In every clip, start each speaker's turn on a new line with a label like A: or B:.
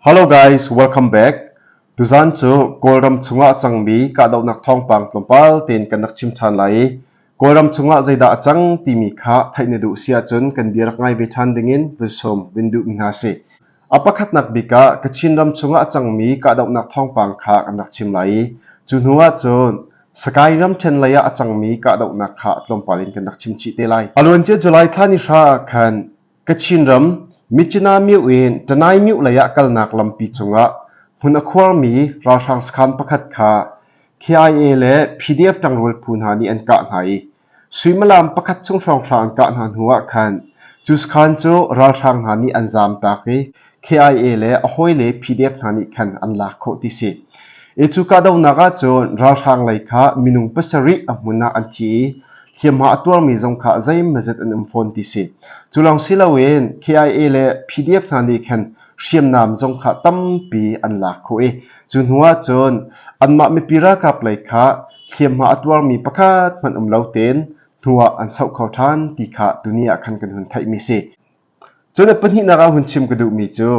A: Hello guys, welcome back. Tuzan cu Kawlram chungah a cangmi kahdohnak thawngpang tlawmpal tein kan rak chim ṭhan lai i Kawlram chungah zeidah a cang timi kha theih na duh si ahcun kan bia rak ngai ve ṭhan dingin vun sawm vun duhmi hna si. A pakhatnak bik ah Kachin ram chungah a cangmi kahdohnak thawngpang kha kan rak chim lai i cu hnu ahcun Sky ram ṭhen lei ah a cangmi kahdohnak kha tlawmpal in kan rak chim chih te lai. A luancia July thla ni hra ah khan Kachin ram Myitkyina-Myo in Tanai-Myo lei ah kalnak lampi cungah hmun a khuarmi ralhrang sakhan pakhat kha KIA le PDF ṭangrual phu hna nih an kah hna i suimilam pakhat chung hrawng thla an kah hna hnu ah khan cu sakhan cu ralhrang hna nih an zaamtak i KIA le a hawile PDF hna nih khan an lak khawh ti si. E cu kahdohnak ahcun ralhrang lei kha minung pasarih a hmun ah an thi i hliamhma a tuarmi zong kha zeimazet an um fawn ti si. Cu lawng si loin KIA le PDF hna nih khan hriamnam zong kha tampi an lak khawh i cu hnu ahcun anmah mipi ralkap lei kha hliamhma a tuarmi pakhat hmanh um lo tein hnu ah an soh kho ṭhan ti kha tuni ah khan kan hun theihmi si. Cun a pahnihnak ah hun chim ka duhmi cu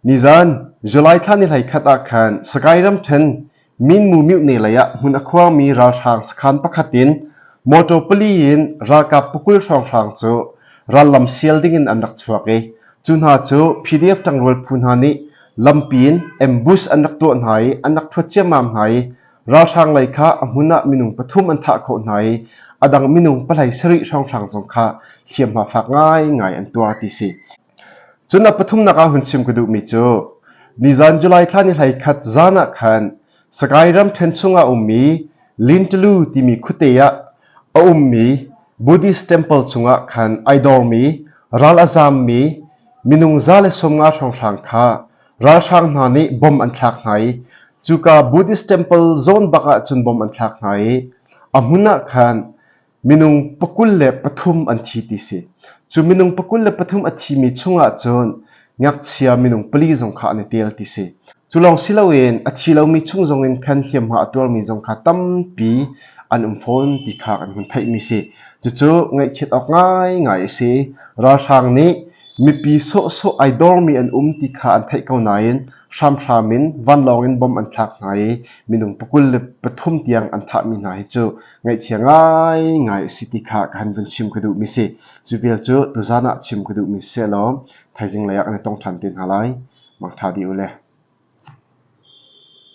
A: nizan July thla ni hlei khat ah khan Sagaing ram ṭhen Minmu Myuhne lei ah hmun a khuangmi ralhrang sakhan pakhat in motor pali in ralkap pakul hrawnghrang cu rallam sial ding in an rak chuak i cu hna cu PDF ṭangrual phu hna nih lampi in ambush an rak tuah hna i an rak thuat ciammam hna i Ralhrang lei kha a hmun ah minung pathum an thah khawh hna i a dang minung pahlei sarih hrawnghrang zong kha hliamhma fak ngaingai an tuar ti si. Cun a pathumnak ah hun chim ka duhmi cu nizan July thla ni hlei khat zan ah khan Sagaing ram ṭhen chung ah a ummi Lintulu timi khuate ah a ummi Buddhist temple chungah khan ai dawmi ral a zammi minung za le sawmnga hrawnghrang kha Ralhrang hna nih bom an thlak hna i cuka Buddhist temple zawn bak ah cun bom an thlak hna i a hmun ah khan minung pakul le pathum an thi ti si. Cu minung pakul le pathum a thimi chungah cun ngakchia minung pali zong kha an i tel ti si. Cu lawng si loin a thi lomi chung zongin khan hliamhma a tuarmi zong kha tampi an um fawn ti kha kan hun theihmi si. Cucu ngaihchiat awk ngaingai a si. Ralhrang nih mipi sawhsawh ai dormi an um ti kha an theih ko nain hramhram in vanlawng in bom an thlak hna i minung pakul le pathum tiang an thahmi hna hi cu ngaihchia ngaingai a si ti kha ka han vun chim ka duhmi si. Cu vial cu tuzan ah chim ka duhmi si law thaizing lei ah kan i tong ṭhan te hna lai. Mangṭha dih u le.